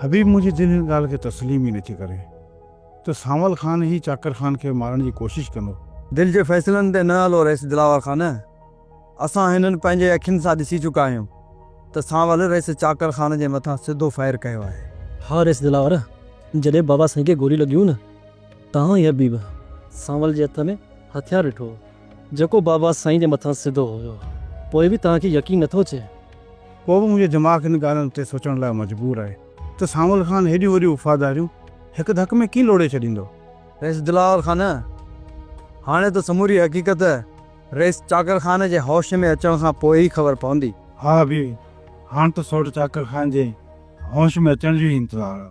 حبيب Mohiuddin هن ڳالهه کي تسليم ئي نٿي ڪري ته سانول خان ئي چاڪر خان کي مارڻ جي ڪوشش ڪندو. دل جي فيصلن تي نه هلو رئيس دلاور خان. اسان هنن پنهنجي اکين سان ڏسي چڪا آهيون ته سانول رئيس چاڪر خان جي مٿان سڌو فائر ڪيو آهي. ها رئيس دلاور، جڏهن بابا سائين کي گوليون لڳيون نه ته آئون هيء حبيب سانول جي هٿ ۾ هٿيار ڏٺو جيڪو بابا سائين جي مٿان سڌو هيو. پوء به توهان کي يقين نٿو اچي؟ پوء به منهنجو دماغ ان ڳالهه تي سوچڻ لاء مجبور آهي ته سانول خان هيڏيون وڏيون وفاداريون هڪ ڌڪ ۾ ڪيئن لوڙهي ڇڏيندو؟ رئيس دلاور خان، هاڻي ته سموري حقيقت رئيس چاڪر خان جي هوش ۾ اچڻ کان پوء ئي خبر پوندي. ها بيوي، هاڻ ته سوڍ چاڪر خان جي هوش ۾ اچڻ جو ئي انتظار آ.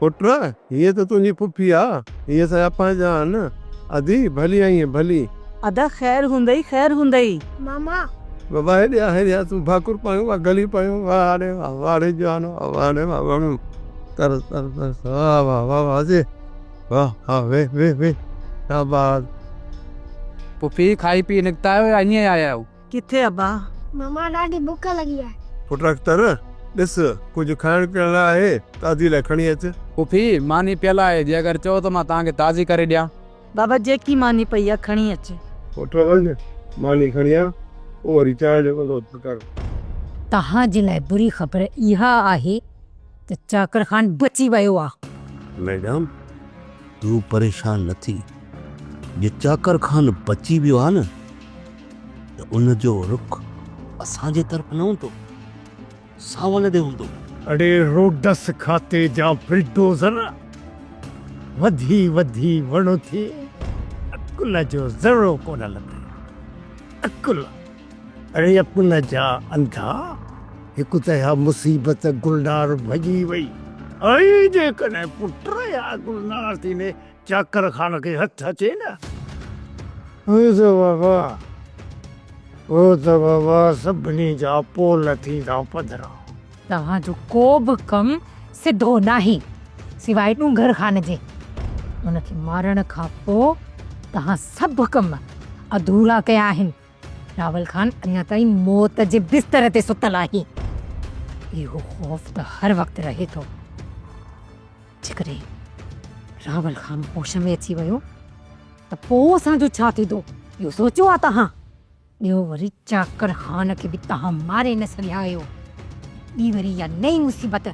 پٽ، هيء ته تنهنجي ڦڦي آ، هيء اسان جي اپانج آ نه، ادي، ڀلي آئينء، ڀلي. ادا، خير هوندئي، خير هوندئي. ماما. بابا، هيڏي آ، هيڏي آ، تون ڀاڪر پايون، واهه گلي پايون، واهه آڙي، واهه آڙي جوان، واهه آڙي، واهه وڻون، تر تر تر، واهه واهه، واهه واهه جي، واهه، ها ويهه ويهه ويهه، شاباس. ڦڦي، کائي پي نڪتا آهيو يا ائين ئي آيا آهيو؟ ڪٿي ابا؟ ماما ڏاڍي بک لڳي آهي. پٽ اختر ڏس ڪجهه کائڻ پيئڻ لاء آهي ته ادي لاء کڻي اچ. پڦي ماني پيل آهي جي اگر چئو ته مان توهان کي تازي ڪري ڏيان. بابا جيڪي ماني پئي آهي کڻي اچ. پٽ وڃ ماني کڻي آ پوء وري چانهه جو بندوبست ڪر. توهان جي لاء بري خبر اها آهي ته چاڪر خان بچي ويو آ. ميڊم تون پريشان نه ٿي جي چاڪر خان بچي ويو آ نه. ته ان جو رخ اسان جي طرف نه هوندو، ساول ڏي هوندو. اڙي روڊس کاتي جا بلڊوزر وڌي وڌي وڙهه ٿئي، عقل جو ذرو ڪونه لڌئي. عقل! اڙي عقل جا انڌا، هڪ ته اها مصيبت گلنار ڀڄي وئي، ۽ جيڪڏهن پٽ يا گلنار ٿيندي، چاڪر خان کي هٿ اچي نه. هو ته بابا، هو ته بابا سڀني جا پول ٿيندا پڌرا. توهان جو ڪو به ڪم سڌو ناهي، سواء ڏونگر خان جي. هن کي مارڻ کان پوء توهان سڀ ڪم اڌورا ڪيا آهن. راول خان اڃا تائين موت جي بستر تي ستل آهي. اهو خوف ته هر وقت رهي ٿو. جيڪڏهن راول خان هوش ۾ اچي ويو ته پوء اسان جو ڇا ٿيندو، اهو سوچيو آهي توهان؟ ٻيو وري چاڪر خان کي به توهان ماري نه سگهيا آهيو، ٻي وري اها نئين مصيبت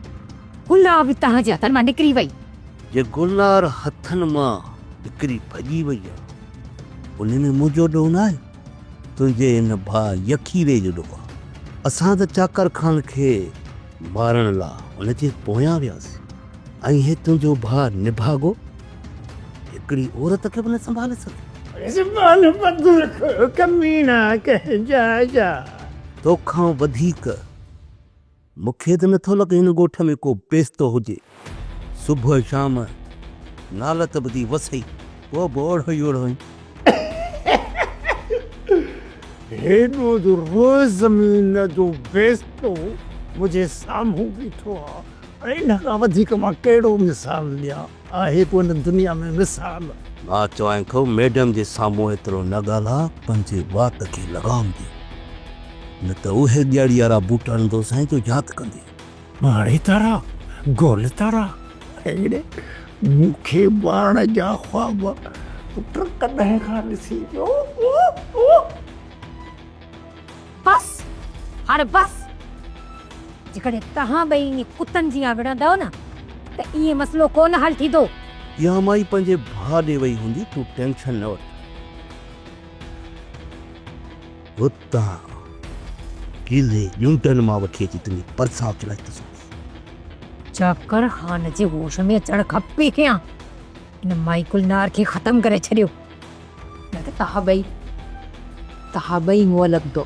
گلنار به توهان جي هٿن مان نڪري وئي. جي گلنار هٿن مان نڪري ڀڄي وئي آهي، ان ۾ منهنجو ڏوهه ناهي، تنهنجي هن ڀاء يخيري جو ڏوهه آهي. اسان ته چاڪر خان کي مارڻ لا ان جي پويان ويس ۽ هي تنهنجو ڀاء نڀاڳو هڪڙي عورت کي به نه سنڀالي سگهي. زبان بند رک ڪميڻا ڪنهن جاء جا. توکان وڌيڪ مون کي ته نٿو لڳي هن ڳوٺ ۾ ڪو پيستو هجي. صبح شام نالت ٻڌي وسئي پوء به اوڙهو ئي اوڙهو هين. هيڏو جو روز زمين جو بيستو منهنجي سامهون بيٺو آ ۽ ان کان وڌيڪ مان ڪهڙو مثال ڏيان. آهي ڪو هن دنيا ۾ مثال. مان چوائين ٿو ميڊم جي سامهون ايترو نه ڳالهاء پنهنجي وات کي لغام ڏي نه ته اهي ڳياڙي وارا بوٽ هڻندوسانء جو ياد ڪندي. پاڻي تارا، گول تارا، اهڙي مون کي مارڻ جا خواب پٽ ڪڏهن کان ڏسي پيو هو. بس، هاڻي بس. جيڪڏهن توهان ٻئي ائين ڪتن جيان وڙهندؤ نه ته ائين مسئلو ڪو نه حل ٿيندو. اها مائي پنهنجي ڀاء ڏي وئي هوندي، تون ٽينشن نه وٺ. تان ڪيلي ڄونٽن مان وٺي اچي تنهنجي پرسان چڙهائي ٿو سگهان. چاڪر خان جي هوش ۾ اچڻ کپي ڪيان هن مائي گلنار کي ختم ڪري ڇڏيو نه ته توهان ٻئي توهان ٻئي هونء لڳندو.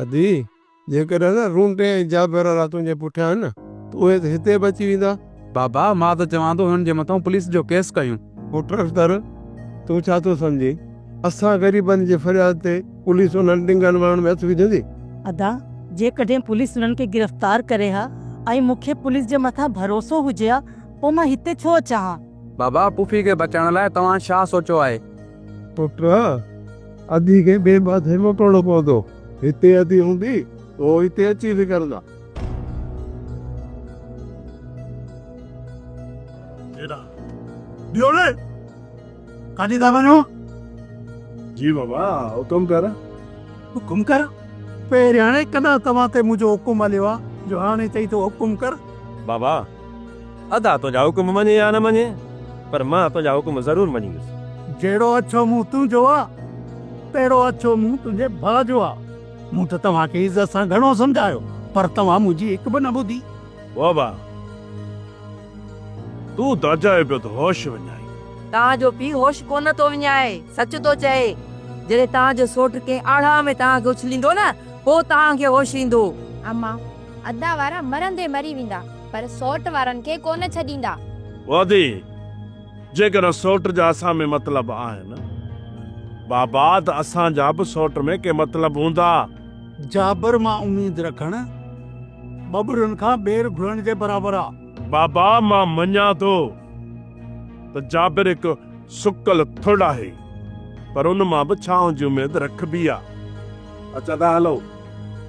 ادي جيڪڏهن نه رونٽي ۽ جابرارا تنهنجي پٺيان آهن نه ته اهي ته هتي به اچي ويندا. بابا، مان ته چوان ٿو هنن جي مٿان پوليس جو ڪيس ڪيون. پٽ اختر، تون ڇا ٿو سمجهين؟ اسان غريبن جي فرياد تي پوليس انهن ڏنگن وڻن ۾ هٿ وجهندي؟ ادا، جيڪڏهن پوليس هنن کي گرفتار ڪري ها ۽ مون کي پوليس جي مٿان ڀروسو هجي ها پوء مان هتي ڇو اچان ها؟ بابا، پڦي کي بچائڻ لاء توهان ڇا سوچيو آهي؟ پٽ، ادي کي ٻئي پاسي موٽڻو پوندو. هتي اڌي هوندي ته هو هتي اچي وگهرندا. جيڏا ڏيو نه ڪاڏي ٿا وڃو؟ جي بابا حڪم ڪر. حڪم ڪر؟ پهرياڻي ڪڏهن توهان تي منهنجو حڪم هليو آ جو هاڻي چئي ٿو حڪم ڪر. بابا ادا تنهنجا حڪم مڃي يا نه مڃي پر مان تنهنجا حڪم ضرور مڃيندس. جهڙو اڇو منهن تنهنجو آ، تهڙو اڇو منهن تنهنجي ڀاء جو آ. مون ته توهان کي عزت سان گهڻو سمجهايو پر توهان منهنجي هڪ به نه ٻڌي. بابا! تون داجائي پيو ته هوش وڃائي. توهان جو پيء هوش ڪونه ٿو وڃائي، سچ ٿو چئي. جڏهن توهان جو سوٽ ڪنهن آڙاهه ۾ توهان کي اڇليندو نه، پوء توهان کي هوش ايندو. امان! ادا وارا مرندي مري ويندا پر سوٽ وارن کي ڪونه ڇڏيندا. ادي جيڪڏهن سوٽ جا اسان ۾ مطلب آهن بابا ته اسان جا به سوٽ ۾ ڪي مطلب هوندا. جابر مان اميد رکڻ ٻٻرن کان ٻير گهرڻ جي برابر آ. بابا مان مڃان ٿو ته جابر هڪ سڪل ٿڙ آهي پر ان مان به ڇانو جي اميد رکبي آ. اچ ادا هلون.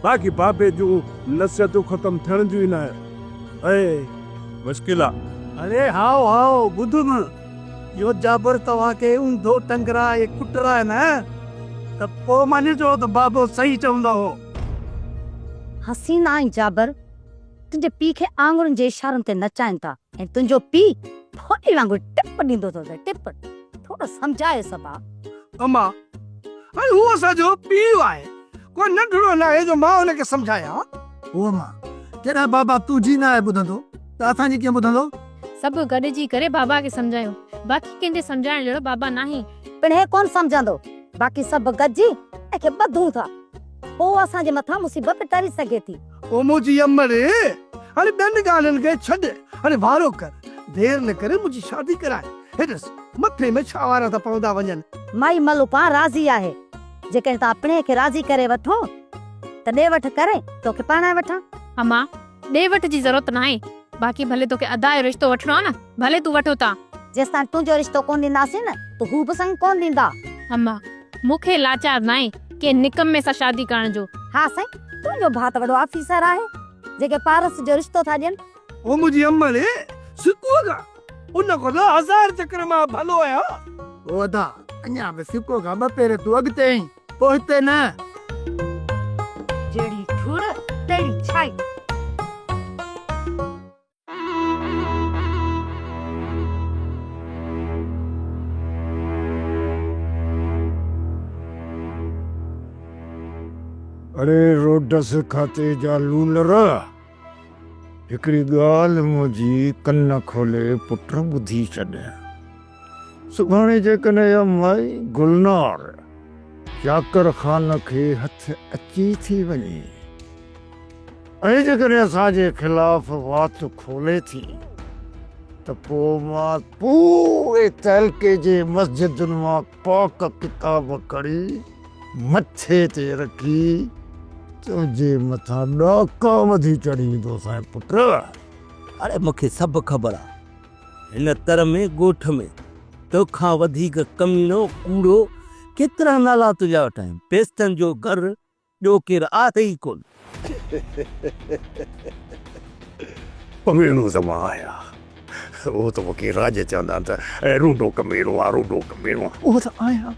باقي بابي جون نصيحتون ختم ٿيڻ جون ئي ناهن ۽. مشڪل آ. اڙي هائو هائو ٻڌ م يو جابر توهان کي اونڌو ٽنگرائي ڪٽرائي نه ته پو مڃجو ته بابو صحيح چوندو هو. حسين ۽ جابر تنهنجي پي کي آڱرين جي اشارن تي نچائين ٿا ۽ تنهنجو پي ڦوڏي وانگر ٽپ ڏيندو ٿو ته ٽپ ٿورو سمجهايس ڀاء. اما ۽ هو اسان جو پيء آهي. ڪو ننڍڙو ناهي جو مان ان کي سمجهايان. هو مان ڪيڏانهن بابا تنهنجي ناهي ٻڌندو ته اسان جي ڪيئن ٻڌندو. سڀ گڏجي ڪري بابا کي سمجهايو. باقي ڪنهن جي سمجهائڻ جهڙو بابا ناهي. پڻ هي ڪونه سمجهندو. باقي سڀ گڏجي ان کي ٻڌون ٿا. پوء اسان جي مٿان مصيبت ٽري سگهي ٿي. او منهنجي امڙي! هاڻي ٻين ڳالهين کي ڇڏ. هاڻي وارو ڪر. دير نه ڪري منهنجي شادي ڪرائي. هي ڏس مٿي ۾ ڇا وارا ٿا پوندا وڃن. مائي ملوڪان راضي آهي. جيڪڏهن تو اپڙهي کي راضي ڪري وٺو ته ڏي وٺ ڪري توکي پرڻائي وٺان. امان، ڏي وٺ جي ضرورت ناهي، باقي ڀلي توکي ادا جو رشتو وٺڻو آ نه، ڀلي تون وٺ اتان. جيستائين تنهنجو رشتو ڪونه ڏينداسين نه ته هو به سڱ ڪونه ڏيندا. امان، مون کي لاچار ناهي ڪنهن نڪمي سان شادي ڪرڻ جو. ها سائين، تنهنجو ڀاء ته وڏو آفيسر آهي، جيڪي پارس جو رشتو ٿا ڏين او منهنجي امڙي سڪوء کان ان کان ته هزار چڪر مان ڀلو آهيان. او ادا اڃا به سڪوء کان ٻه پير تون اڳتي آهين، پوء هتي نه. جهڙي ٺوڙهه تهڙي ڇائي. اڙي روڊس کاتي جا لونر! هڪڙي ڳالهه منهنجي ڪن کولي پٽ ٻڌي ڇڏ. سڀاڻي جيڪڏهن اها مائي گلنار چاڪر خان کي هٿ اچي ٿي وڃي ۽ جيڪڏهن اسان جي خلاف وات کولي ٿي ته پوء مان پوري تعلقي جي مسجدن مان پاڪ ڪتاب کڻي مٿي تي رکي، تنهنجي مٿان ڏاڪا وڌي چڙهي ايندس ۽ پٽ! اڙي مون کي سڀ خبر آ، هن تر ۾ ڳوٺ ۾ تو کان وڌيڪ ڪميڻو، ڪوڙو ڪيترا نالا تنهنجا وٺايم، پيستن جو گهر ٻيو ڪير آهي ئي ڪونه. ڪميڻو ته مان آهيان. اهو ته وڪي راڄ چوندا آهن ته اي روڊو ڪميڻو آ روڊو ڪميڻو آ. اهو ته آهيان.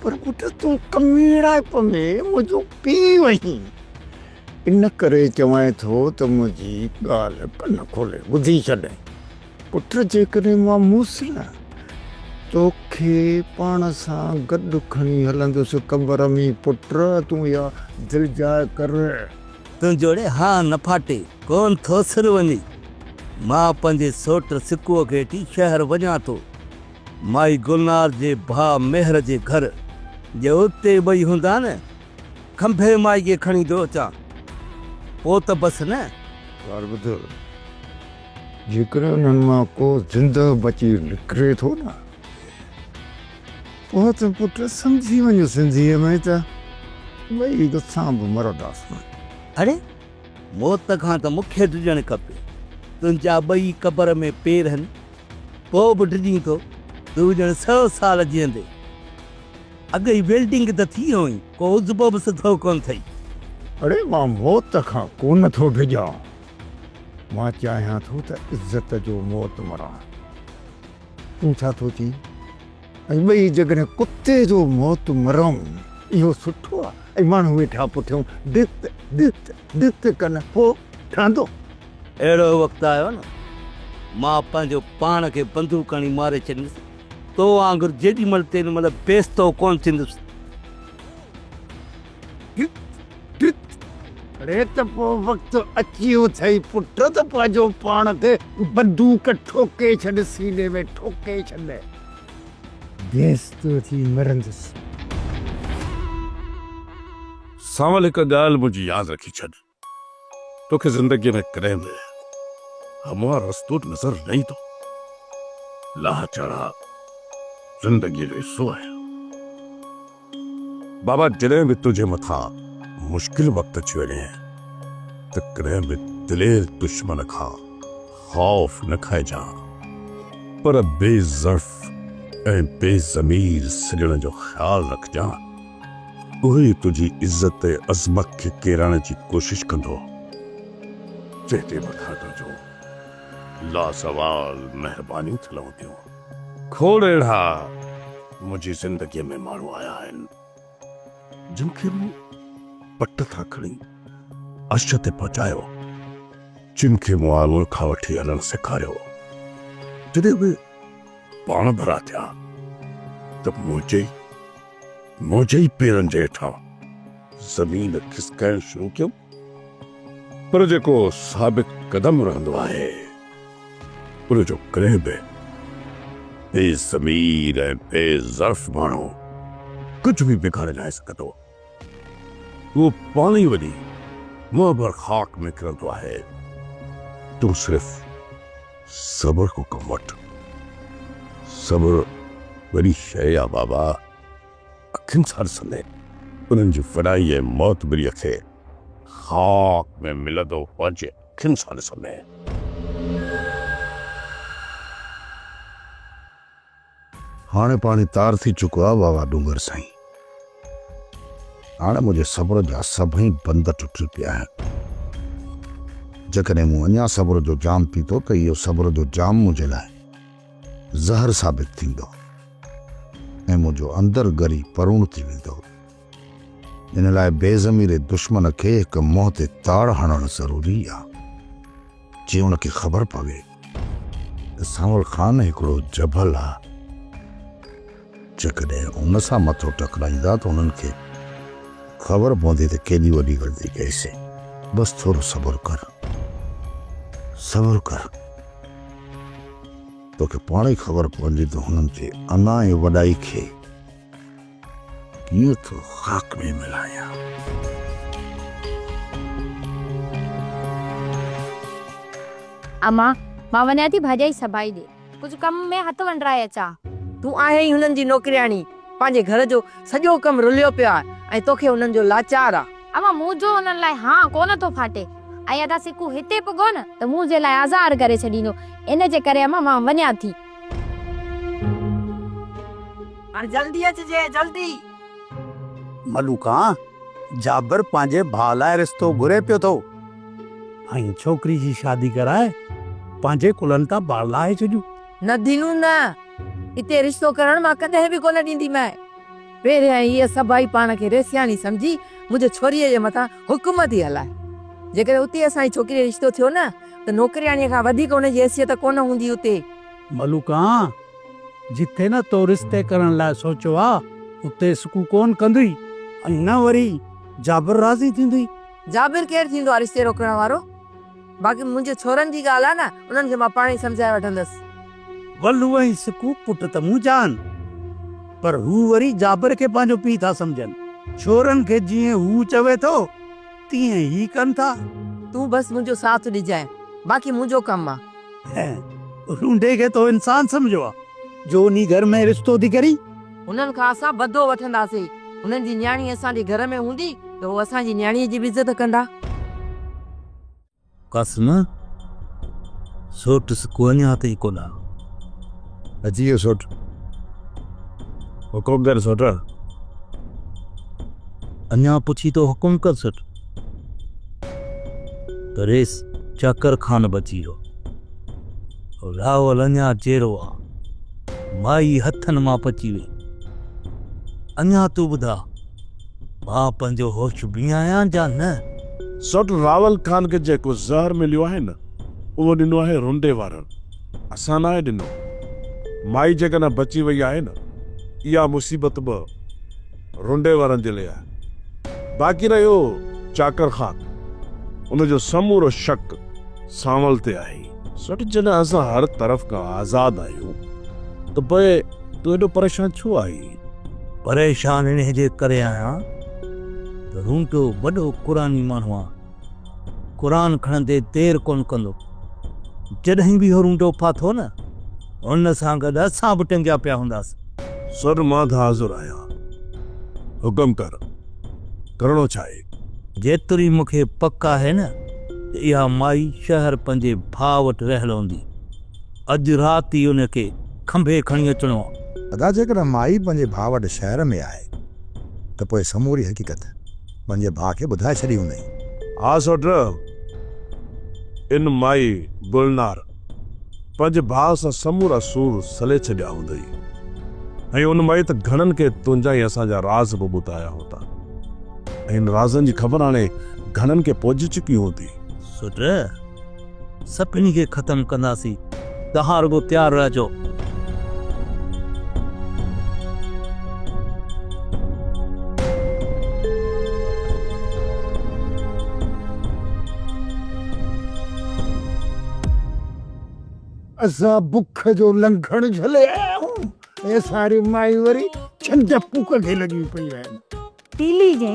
پر پٽ تون ڪميڻائپ ۾ منهنجو پيء آهين. ان ڪري چوانء ٿو ته منهنجي ڳالهه ڪن کولي ٻڌي ڇڏ. پٽ جيڪڏهن مان هوس نه توکي پاڻ سان گڏ کڻي هلندس قبر ۾ پٽ تون اها دل جاء ڪر. تون جوڙي ها نه ڦاٽي ڪون ٿو سر وڃي مان پنهنجي سوٽ سڪوء کي اٽي شهر وڃان ٿو مائي گلنار جي ڀاء مهر جي گهر جي اتي ٻئي هوندا نه کنڀي مائي کي کڻي ٿو اچان پوء ته بس نه. ڳالهه ٻڌ. جيڪڏهن انهن مان ڪو زنده بچي نڪري ٿو نه پوء ته پٽ سمجهي وڃ سنڌيء ۾ ته ٻئي ڏسان به مرنداسون. اڙي! موت کان ته مون کي ڊڄڻ کپي. تنهنجا ٻئي قبر ۾ پير هن. پوء به ڊڄين ٿو. تون ڄڻ سئو سال جيئندين. اڳ ئي ويلڊنگ ته ٿي هئين. ڪو عضبو به سڌو ڪونه ٿئي. اڙي! مان موت کان ڪونه ٿو ڊڄان. مان چاهيان ٿو ته عزت جو موت مران. تون ڇا ٿو چئين؟ ۽ ٻئي جيڪڏهن ڪتي جو موت مرون، اهو سٺو آهي ۽ ماڻهو ويٺا پٺيون ڊت ڊت ڊت ڪن، پوء ٺهندو؟ اهڙو وقت آيو نه، مان پنهنجو پاڻ کي بندوق هڻي ماري ڇڏيندس، تو وانگر جيڏي مهل تيڏي مهل بيستو ڪونه ٿيندس. ٽرت ٽرت اڙي ته پوء وقت اچي اٿئي پٽ ته پنهنجو پاڻ تي بندوق ٺوڪي ڇڏ سيني ۾ ٺوڪي ڇڏ بيس تو ٿي مرندس. سانول هڪ ڳالهه منهنجي ياد رکي ڇڏ. توکي زندگيء ۾ ڪڏهن به هموار رستو نظر نه ايندو. لاهه چڙهاء زندگيء جو حصو آهن. بابا جڏهن به تنهنجي مٿان مشڪل وقت اچي وڃي ته ڪڏهن به دلير دشمن کان خوف نه کائجان پر بي ضعف ۽ بي ضمير سڄڻ جو خيال رکجان. اهو ئي تنهنجي عزت ۽ عظمت کي ڪيرائڻ جي ڪوشش ڪندو. جنهن تي مون کان تنهنجون لازوال مهربانيون ٿي لهنديون. کوڙ اهڙا منهنجي زندگيء ۾ ماڻهو آيا آهن، جن کي مون پٽ تان کڻي عرش تي پهچايو، جن کي مون آڱر کان وٺي هلڻ سيکاريو، جڏهن اهي پاڻ ڀرا ٿيا ته منهنجي ئي منهنجي ئي پيرن جي هيٺان زمين کسڪائڻ شروع ڪيم، پر جيڪو ثابت قدم رهندو آهي، ان جو ڪڏهن به بي ضمير ۽ بي ظرف ماڻهو ڪجهه به بگاڙي ناهي سگهندو. اهو پاڻ ئي وڃي منهن ڀر خاڪ ۾ ڪرندو آهي. تون صرف. صبر ڪو ڪم وٺ. صبر وڏي شيء آ بابا. اکين سان ڏسندي انهن جي فنائي ۽ معتبريء کي خاڪ ۾ ملندو پنهنجي اکين سان ڏسندي. هاڻي پاڻي تار ٿي چڪو آ واوا ڏونگر سائين. هاڻي منهنجي صبر جا سڀئي بند ٽٽي پيا آهن. جيڪڏهن مون اڃا صبر جو جام پيتو ته اهو صبر جو جام منهنجي لاء زهر ثابت ٿيندو ۽ منهنجو اندر ڳري پروڻ ٿي ويندو. ان لاء بي ضمير دشمن کي هڪ منهن تي تاڙ هڻڻ ضروري آ، جي ان کي خبر پوي ته سانول خان هڪڙو جبل آ، جيڪڏهن ان سان مٿو ٽڪرائيندا ته انهن کي خبر پوندي ته ڪيڏي وڏي غلطي ڪئيسين. بس ٿورو صبر ڪر، صبر ڪر، توکي پاڻ ئي خبر پوندي ته هنن جي انا ۽ وڏائي کي ڪيئن ٿو خاڪ ۾ ملايان. امان، مان وڃان ٿي ڀاڄائي سڀائي ڏي. ڪجهه ڪم ۾ هٿ ونڊرائي اچان. تون آهين ئي هنن جي نوڪرياڻي، پنهنجي گهر جو سڄو ڪم رليو پيو آهي ۽ توکي هنن جو لاچار آ. امان، مون جو هنن لاء هان ڪو نه ٿو ڦاٽي ۽ ادا سڪو هتي پڳو نه ته مون جي لاء آزار ڪري ڇڏيندو، ان جي ڪري امان مان وڃان ٿي. هاڻ جلدي اچجي، جلدي. ملوڪا، جابر پنهنجي ڀاء لاء رشتو گهري پيو ٿو. ۽ ڇوڪري جي شادي ڪرائي پنهنجي ڪلهن تان بار لاهي ڇڏيون. نه دينو نه، اتي رشتو ڪرڻ مان ڪڏهن به ڪونه ڏينديمانء. پهريائين هيء سڀائي پاڻ کي ريسياڻي سمجهي منهنجي ڇوريء جي مٿان حڪم ٿي هلائي. جيڪڏهن اتي اسان جي ڇوڪريء رشتو ٿيو نه ته نوڪرياڻيء کان وڌيڪ ان جي حيثيت ڪونه هوندي اتي. ملوڪان، جتي نه تو رشتي ڪرڻ لاء سوچيو آ، اتي سڪون ڪونه ڪندينء ۽ نه وري جابر راضي ٿيندينء. جابر ڪير ٿيندو آ رشتي روڪڻ وارو؟ باقي منهنجي ڇورن جي ڳالهه آهي نه، انهن کي مان پاڻهي سمجهائي وٺندس. ولو ۽ سڪوب پٽ ته منهنجا آهن، پر هو وري جابر کي پنهنجو پيء ٿا سمجهن. ڇورن کي جيئن هو چوي ٿو، تيئن ئي ڪن ٿا. تون بس منهنجو ساٿ ڏجانء، باقي منهنجو ڪم آ. هينئن لونڊي کي تو انسان سمجهيو آ، جو انهي گهر ۾ رشتو ٿي ڪرين؟ هنن کان اسان بدو وٺنداسين. هنن جي نياڻي اسان جي گهر ۾ هوندي ته هو اسان جي نياڻيء جي به عزت ڪندا. قاسم، سوٽس ڪو اڃا تائين ڪو نه آيو. اچي ويو سوٽ. حڪم ڪر سوٽ. اڃا پڇين ٿو حڪم ڪر سوٽ. ريس چاڪر خان بچي ويو. راول اڃا چيرو آ. مائي هٿن مان پچي وئي. اڃا تون ٻڌاء، مان پنهنجو هوش ۾ آهيان جا نه؟ سوٽ راول خان کي جيڪو زهر مليو آهي نه، اهو ڏنو آهي رنڊي وارن، اسان ناهي ڏنو. مائي جيڪڏهن بچي وئي آهي نه، اها مصيبت به. رنڊي وارن جي ليئا باقي رهيو چاڪر خان ان جو سمورو شڪ سانول تي آهي. سيٺ جڏهن اسان هر طرف کان آزاد آهيون ته پوء تون ايڏو پريشان ڇو آهين؟ پريشان انهيء جي ڪري آهيان ته رنڊو وڏو قرآني ماڻهو آهي. قرآن کڻندي دير ڪونه ڪندو. جڏهن به اهو رونڊو ڦاٿو نه، هن سان گڏ اسان به ٽنگيا پيا هونداسين. سر مان ته حاضر آهيان. حڪم ڪر، ڪرڻو ڇا آهي؟ جيتري مون کي پڪ آهي نه ته اها مائي شهر پنهنجي ڀاء وٽ رهيل هوندي. اڄ رات ئي ان کي کنڀي کڻي اچڻو آهي. ادا جيڪڏهن مائي پنهنجي ڀاء وٽ شهر ۾ آهي ته پوء سموري حقيقت. پنهنجي ڀاء کي ٻڌائي ڇڏي هوندئين. ها سوٽ، ان مائي گلنار پنهنجي ڀاء سان سمورا سور سلي ڇڏيا هوندئي ۽ ان مائي ته گهڻن کي تنهنجا ۽ اسان جا راز به ٻڌايا هوندا ۽ ان رازن جي خبر هاڻي گهڻن کي پهچي چڪي هوندي. سوٽ، سڀني کي ختم ڪنداسين توهان رڳو تيار رهجو. اسان بک جو لنگھڻ جھلي آيا آهيون ۽ اسان ري مائي وري ڇنڊ پوڪ کي لڳيون پيون آهن. تيلي جي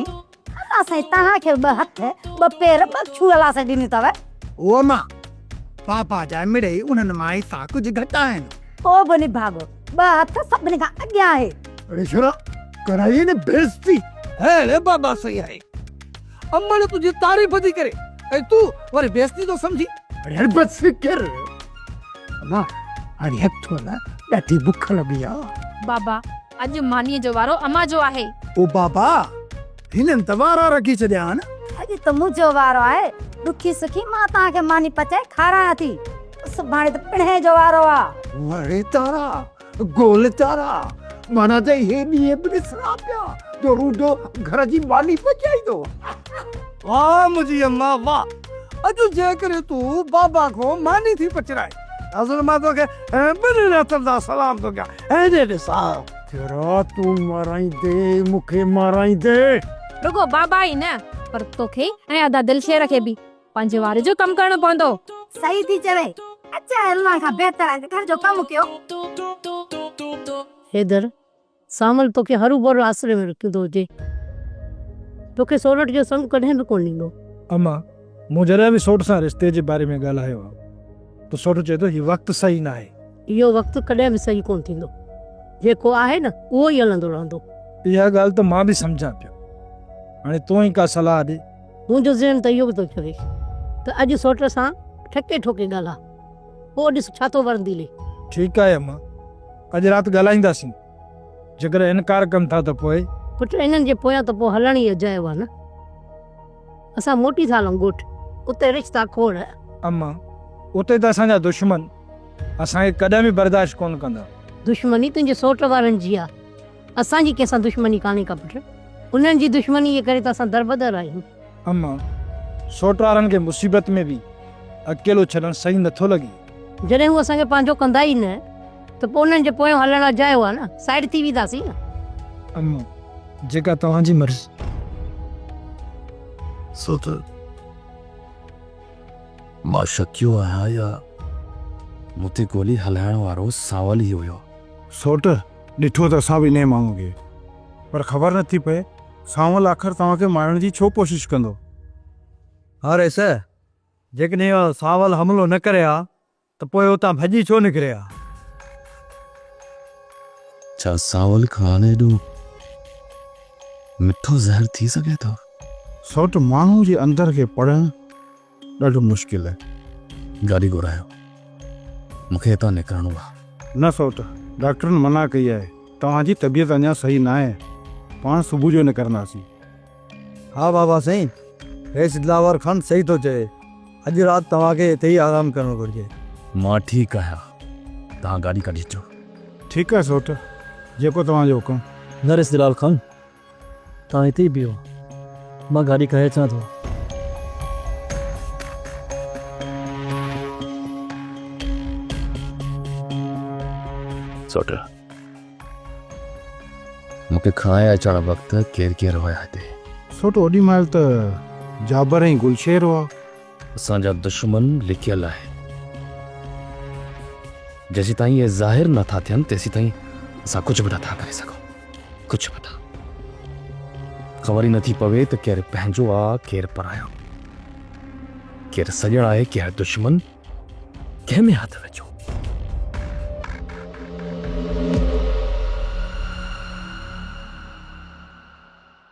الله سائين توهان کي ٻه هٿ، ٻه پير، ٻه ڇو الله سائين ڏنيون اٿو. اوء ماء! پاپا جا مڙئي انهن مان حصا ڪجهه گهٽ آهن. ڪو به نڀاڳو ٻه هٿ سڀني کان اڳيان آهي. رشرا ڪرائي نه بيعزتي. هيء بابا سائين آهي. امڙ تنهنجي تعريف ٿي ڪري ۽ تون وري بيعزتي ٿو سمجهين. اڙي بس ڪر امان هاڻي هٿ هلا ڏاڍي بک لڳي آ. بابا اڄ مانيء جو وارو امان جو آهي. او بابا! هنن ته وارا رکي ڇڏيا آهن. اڄ ته منهنجو وارو آهي. ڏکي سکي مان توهان کي ماني پچائي کارايان ٿي. سڀاڻي ته پڻهين جو وارو آ. وڙي تارا، گول تارا، مانان ته اهي ڏينهن به ڏسڻا پيا جو روڊو گهر جي ماني پچائيندو هو. واه منهنجي امان واه! اڄ جيڪڏهن تون بابا کان ماني ٿي پچرائين. حضرت مان توکي ٻنهن هٿن سان سلام ٿو ڪيان ۽ ڏي ڏسان. ٿرا تون مارائيندي مون کي مارائيندي. رڳو بابا ئي نه پر توکي ۽ ادا دلشير کي به پنهنجي واري جو ڪم ڪرڻو پوندو. صحيح ٿي چوين. اچ هلڻ کان بهتر آهي ته گهر جو ڪم ڪيو. حيدر، سانول توکي هروڀرو آسري ۾ رکيندو هجي. توکي سورٺ جو سڱ ڪڏهن به ڪونه ڏيندو. اما، مون جڏهن به سورٺ سان رشتي جي باري ۾ ڳالهايو آهي ته سورٺ چئي ٿو هي وقت صحيح ناهي. اهو وقت ڪڏهن به صحيح ڪونه ٿيندو. جيڪو آهي نه اهو ئي هلندو رهندو. اها ڳالهه ته مان به سمجهان پيو. هاڻي تون ئي ڪا صلاح ڏي. منهنجو ذهن ته اهو به ٿو چوي ته اڄ سورٺ سان ٺڪي ٺوڪي ڳالهاء. پوء ڏس ڇا ٿو ورندي لي. ٺيڪ آهي اما، اڄ رات ڳالهائينداسين. جيڪڏهن انڪار ڪن ٿا ته پوء؟ پٽ انهن جي پويان ته پوء هلڻ ئي اجايو آهي نه. اسان موٽي ٿا هلون ڳوٺ. اتي رشتا کوڙ. اما، اتي ته اسان جا دشمن اسان کي ڪڏهن به برداشت ڪونه ڪندا. دشمني تنهنجي سوٽ وارن جي آهي. اسان جي ڪنهن سان دشمني ڪانهي ڪا پٽ. انهن جي دشمني جي ڪري ته اسان دربدر آهيون. اما، سوٽ وارن کي مصيبت ۾ به اڪيلو ڇڏڻ صحيح نٿو لڳي. جڏهن هو اسان کي پنهنجو ڪندا ئي نه ته پوء انهن جي پويان هلڻ اجايو آهي نه، سائيڊ ٿي وينداسين نه. اما، جيڪا توهان جي مرضي. سوٽ، مان شڪيو آهيان يا مون تي گولي هلائڻ وارو سانول ئي هيو. سوٽ، ڏٺو ته اسان به انهيء ماڻهوء کي پر خبر نٿي پئي. سانول آخر توهان کي مارڻ جي ڇو ڪوشش ڪندو؟ هاريس، جيڪڏهن اهو سانول حملو نه ڪري ها ته پوء اتان ڀڄي ڇو نڪري ها؟ ڇا سانول کان ايڏو مٺو زهر ٿي سگهي ٿو؟ سوٽ ماڻهو جي اندر کي پڙهڻ ڏاڍو مشڪل آهي گاڏي گهرايو مون کي هتان نڪرڻو آهي. نه سوٽ ڊاڪٽرن منع ڪئي آهي توهان جي طبيعت اڃا صحيح ناهي پاڻ صبح جو نڪرنداسين. ها بابا سائين رئيس دلاور خان صحيح ٿو چوي اڄ رات توهان کي هتي ئي آرام ڪرڻو گهرجي. مان ٺيڪ آهيان توهان گاڏي ڪڍي اچو. ٺيڪ آهي سوٽ جيڪو توهان جو حڪم. نه رئيس دلال خان توهان هتي ئي بيهو، مان گاڏي ڪاهي اچان ٿو. سوٽر، مون کي کائي اچڻ وقت ڪير ڪير هيا هتي؟ سوٽو، اوڏي مهل ته جابر ۽ گلشير هئا. اسان جا دشمن لڪيل آهن. جيسيتائين اهي ظاهر نه ٿا ٿين تيسيتائين اسان ڪجهه به نه ٿا ڪري سگهون. ڪجهه به نه. خبر ئي نه ٿي پوي ته ڪير پنهنجو آ ڪير پرايو. ڪير سڄڻ آهي ڪير دشمن. ڪنهن ۾ هٿ وجهو.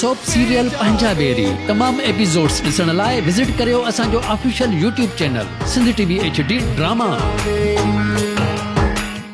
سوپ سيريل پنهنجا بيري تمام ايپيسوڊز ڏسڻ لاء وزٽ ڪريو اسان جو official YouTube channel Sindh T V H D drama.